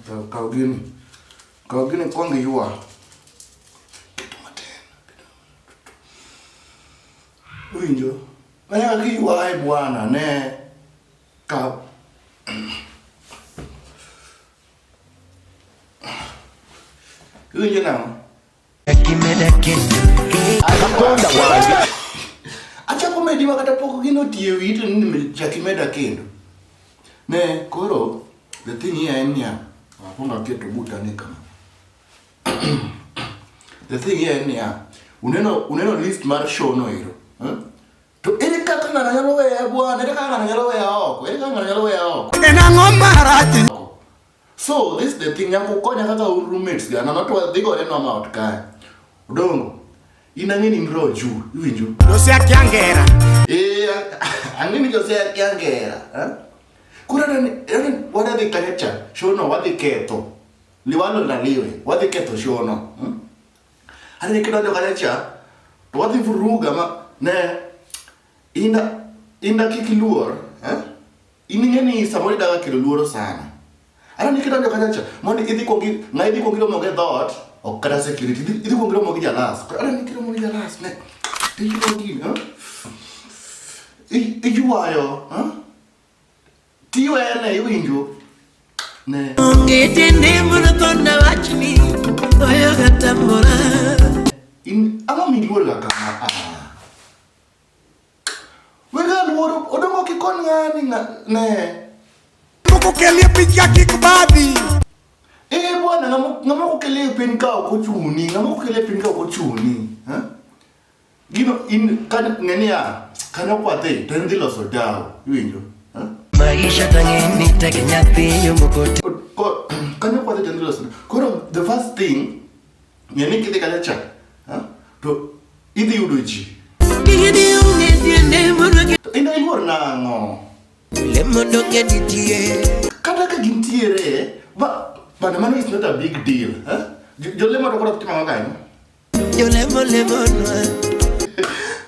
Kaw gini. Kaw gini kwong iywa. Keto matin. Winjo? Manya kaka iywaye bwana ne ka Iwinjo nang'o? Anakonda wange. Achako medi ma kata pok gino tiyo ito ni chaki meda kendo. Ne koro the thing here en niya. Akonda keto buta ni kama. The thing here en niya. Uneno uneno list mar show no iro. Huh? To ere kaka ng'ano nyalo weya bwana, ere kaka ng'ano nyalo weya oko, ere kaka ng'ano nyalo weya oko. En ang'o marach? So this the thing nyako konya kaka un roommates ga nono to wadhi gore no ma ot kae. Odongo. In ang'e ni nro ju, iwinjo? Jose akiangera. Eh, ang'e ni Jose akiangera. Eh? Kura dani, dani wada dhi kanya cha, shono wadhi ketho. Liwalo na liwe, wadhi ketho shono. Hmm? Ani ni kidonjo kanya cha, to wadhi vuruga ma ne inda inda kik iluor, eh? In ing'e ni samoro idaga kelo luoro sana. Aneno ni kidonjo kanyo cha mondo idhi kuongo i- ng'a idhi kuongo iromo gi dhoot ok kata security idhi idhi kuongo iromo gi jalas. Koro Aneno ni kiromo gi jalas ne. Iyudo gini, ha? I- Iywayo, ha? Tiwene iwinjo. Ne. Onge tiende mondo thona wachni oyoga tamora In ang'o miluor ga kama? Ah. Wega luoro odongo kikon ng'ani ne. Moko kelie picha kik badi. Eh bwana ng'ama okelie pin ka ok ochuni, ng'ama okelie pin ka ok ochuni. Eh? Gino in kan ng'enia kan okwate to en dhi loso dawa, iwinjo? Eh? Maisha tang'eni tek nyathi yo moko. Kan okwate to en dhi loso. Koro the first thing Ng'e ni kidhi kacha cha, ha? to idhi yudo ji. Gigeni onge tiende mondo gi- To in iluor nang'o? le mondo ng'e nitie. Kata ka gintiere, ba, bana mano is not a big deal. Ha? Jo- Jolemo to koro ok tim ang'o kanyo? Jolemo lemonwa.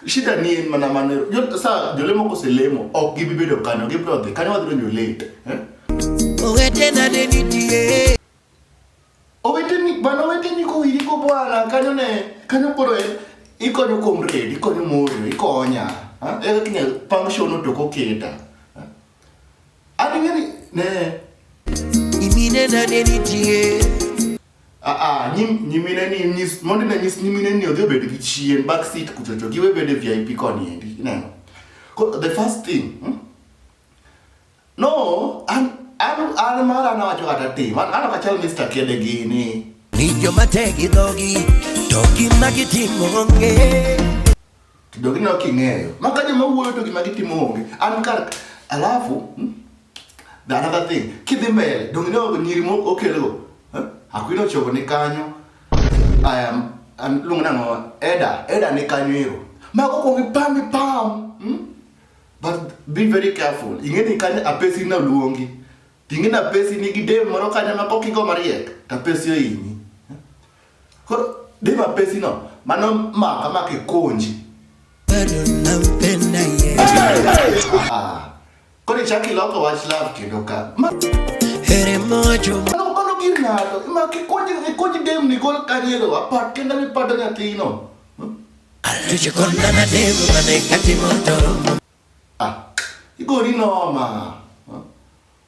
Shida ni en mana mano. Jo- Sa jolemo koselemo, ok gibi bedo kanyo, gibiro dhi. Kanyo wadhi donjo late. Ha? Owetena ne nitie. Oweteni, bana oweteni kowiri go bwana, kanyo ne, kanyo koro en, ikonyo kuom red, ikonyo morio, ikonya. Ha? Eka kinya pang shono to koketa. Ha? Ani ngani, ne, Imine na neni tie. a a, nyim, nyimine ni, nyis, mondi na nyis nyimine ni odhi obed gi chien, back seat kuchocho, giwe bede VIP koni endi, ineno. Ko, the first thing, hmm? No, an an an mar an awacho kata tim. An an kachal Mr. Kede gini. Ni joma te gi dhogi to gima gitimo onge. To jogi ne ok ing'eyo. Ma ka joma wuoyo to gima gitimo onge. An kar alafu hmm, the another thing kidhi mbele donge ne ogo nyiri mo okelgo. Eh? Akwino chogo ni kanyo. I am an luongo nang'o Eda. Eda ni kanyo ero. Mago kuongi pam ipam. Hmm? but be very careful ing'eni kane apesi naluongi ting'e na pesi nigi dem moro kanya ma kokigo mariek to apesi ohinyi koro dem apesi no mano maka ma kikunji bado nampenda ye koro ichaki loko wach love kendo ka Ma- heri mojo mano mano gir ng'ato ma kikunji kikunji dem ni gol kanyero apat kenda mipato nyathino Ah, igori noma.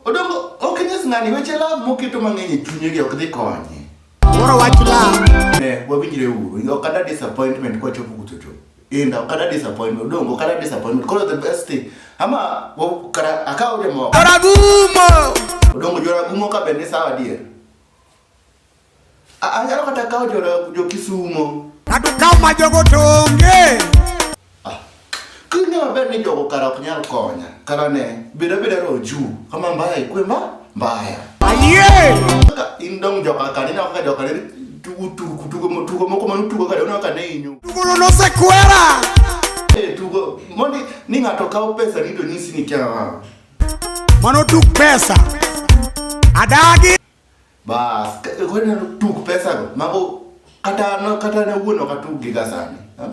Odongo, ok nyis ng'ani weche love moketo mang'eny e chunye gi ok dhi konye. Moro wach love. Eh, wawinjre uru. Ok ada disappointment kwa chopo kuto chopo. Inda, ok ada disappointment. Odongo, ok ada disappointment. Koro the best thing. Ama, kara, akaw jomoko. Joragumo! Odongo, joragumo ka bende sawa dier. Anyalo kata kawo jo jo Kisumo. Ng'ato kaw ma jogo to onge. Ah, King'e maber ni jogo kara ok nyal konya. Kara ne, beda beda ro juu. Kama mbaya ikwe mba, mbaya. Ayie! Kaka in dong joka kara, ina kaka joka kara, tugo tugo tugo mo- tugo moko manu tugo kara, una kane inyo. Tugono nosekwera! Eh, tugo, mondi ni ng'ato kawo pesa ni to nyisi ni kya. Mano tuk pesa. Adagi! Bas, koro ineno tuk pesago, mago kata an kata an awuon ok atug gi gasani. ha?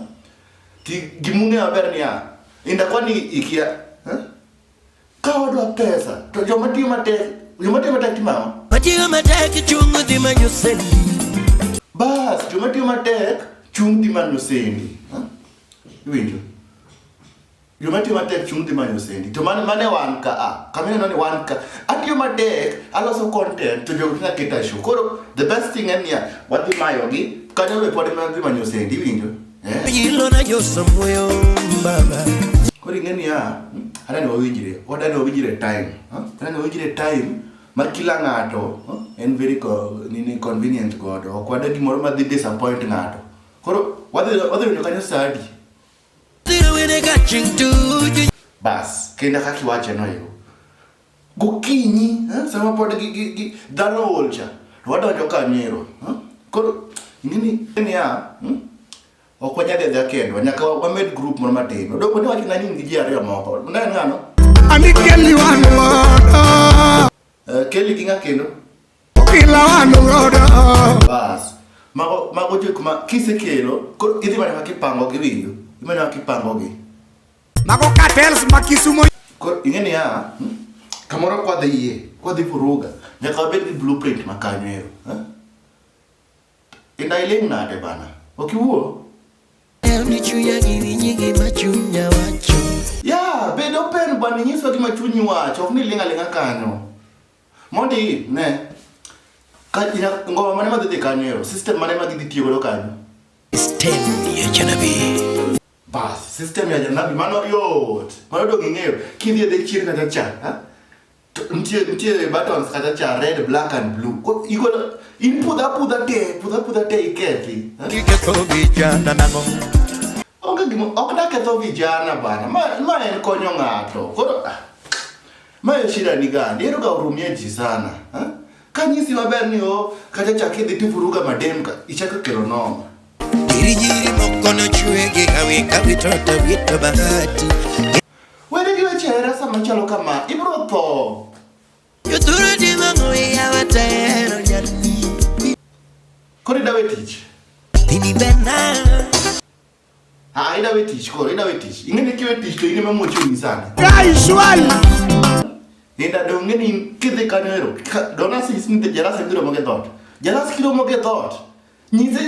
Ti gimung'eyo maber niya, inda kwani ikia. ha? Ka wadwa pesa, to joma tiyo matek, joma tiyo matek timo ang'o? Matiyo matek chung' dhi manyo sendi. Bas, joma tiyo matek chung' dhi manyo sendi. ha? Iwinjo? Joma tiyo matek chung' dhi manyo sendi. To mane mane wan ka a. Kamina nani wan ka. Atiyo matek, aloso content to jogo kina keta show. Koro the best thing en ya wadhi mayo gi kanyo le pod mana dhi manyo sendi winjo. Eh? Yilo na jo samuyo baba. Koro ing'eni ya adani wawinjire, wadani wawinjire time. Huh? Adani wawinjire time ma kila ng'ato huh? en very co nini convenient godo. Ok wadagi gimoro ma dhi disappoint ng'ato. Koro wadhi wadhi winjo kanyo sadi. bas kendo kaka iwache no yo gokinyi eh, sama pod dhano ool cha to wadonjo ka nyero eh, koro ing'eni niya hmm, ok wanyal edha kendwa nyaka wamed grup moro matin odoko ni wachona ni in gi ji ariyo moko ne ng'ano eh, keli gi ng'a kendo Bas. Mago mago jok ma kisekelo koro idhi mana kipango gi winjo. Idhi mana kipango gi. Mago cartels ma Kisumo. Koro ing'e ni ya hmm? kamoro kwa dhi yie, kwa dhi furuga. Nyaka wabed gi blueprint ma kanyo ero. Eh? Inda iling' nade bana? Ok iwuo? Ya, bed open bwana inyiso gima chunyi wacho, ok ni ling' aling'a kanyo. Mondi ne ka ina ngoma mane madhi dhi kanyo ero system mane ma gidhi tiyo godo kanyo system ya janabi bas system ya janabi mano yot mano dong ing'eyo kidhi e dek chien kata cha ha? To- nitie nitie buttons kata cha red black and blue Ko- igolo in pudha pudha te pudha pudha te ikethi ha? iketho vijana nang'o onge gima ok daketho vijana bana ma, ma en konyo ng'ato koro ah, Mayo shida ni gani? Ero ga urumie ji sana. Ha? Kanyisi maber ni o kata chak idhi tivuruga madem ka ichako kelo noma. Girijiri moko nochwe gi hawi ka witoto wito bahati. Wede gi weche hera sama chalo kama, ibro tho. Yudhuru di mang'o iya watero nyalni. Kori dawe tich. Ini bena. Ah, ina we tich koro, ina we tich. Ing'eni kiwe tich to in ema mochuni sani. Kai shwali. Nenda do ng'eni kidhi kanyo ero. Dona sis ni jarasa biro moge dot. Jarasa kiro moge dot. Nyize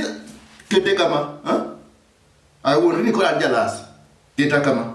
kete kama, ha? Ai wonri ni kora jarasa. Kete kama.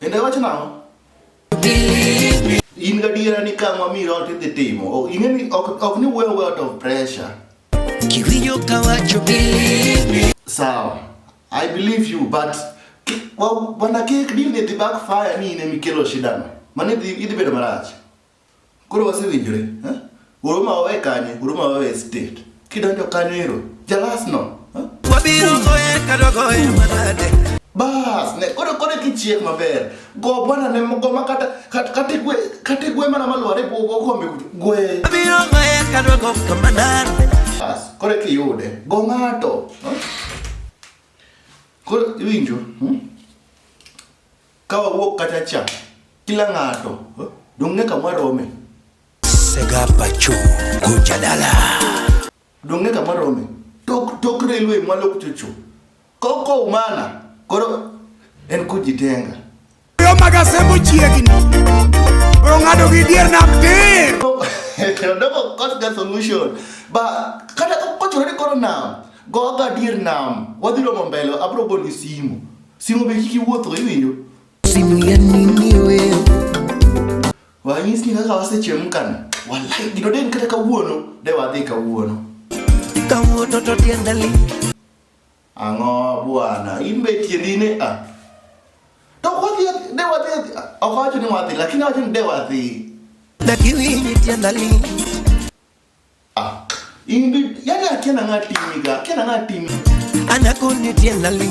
Ende wacho nang'o? In gadiera ni ka mami rot idhi timo. O, Ing'e ni ok ok ni wuoyo wuoyo out of pressure. Kiwinjo ka wacho believe me. Sawa. I believe you but ki- wa- wana kik deal ni dhi backfire ni in ema ikelo shida no. Mano idhi idhi bedo marach. Koro wasewinjore, eh? Oro ma wawe kanye, oro ma wawe state. Kidonjo kanyo ero, jalas no. eh? Wabiro goye kata goye manade. Bas, ne koro koro kichiek maber. Go bwana ne go ma kata kata kata igwe kata igwe mana malware go go kombe kutu. Gwe. Wabiro goye kata goka manade. Bas, koro kiyude. Go ng'ato. eh? Koro iwinjo, hmm? Ka wawuok kacha cha, kila ng'ato eh, dong' ne kamwa rome. Sega pacho kucha dala. Dong' ne kamwa rome. Tok tok railway mwa lok chocho. Koko umana koro en kujitenga. Yo magasembo chiegni. Ong'ado gi dier nam tir. Dogo cost the solution. Ba kata kochore ni koro nam. Goga dier nam. Wadhi romo mbele abro goli simu. Simu be kiki wuotho iwinjo? Simu ya nini wewe? Wanyis ni kaka wasechemkana. Wallahi gino den kata kawuono de wadhi kawuono. Kawuono to tienda li. Ang'o bwana, in be tiendi ne a. Ah. To wadhi de wadhi ok wacho ni wadhi lakini wacho ni de wadhi. Lakini tienda li. Ah, Ingrid, yani akia na ngati miga, akia na ngati. Anakonitia nali.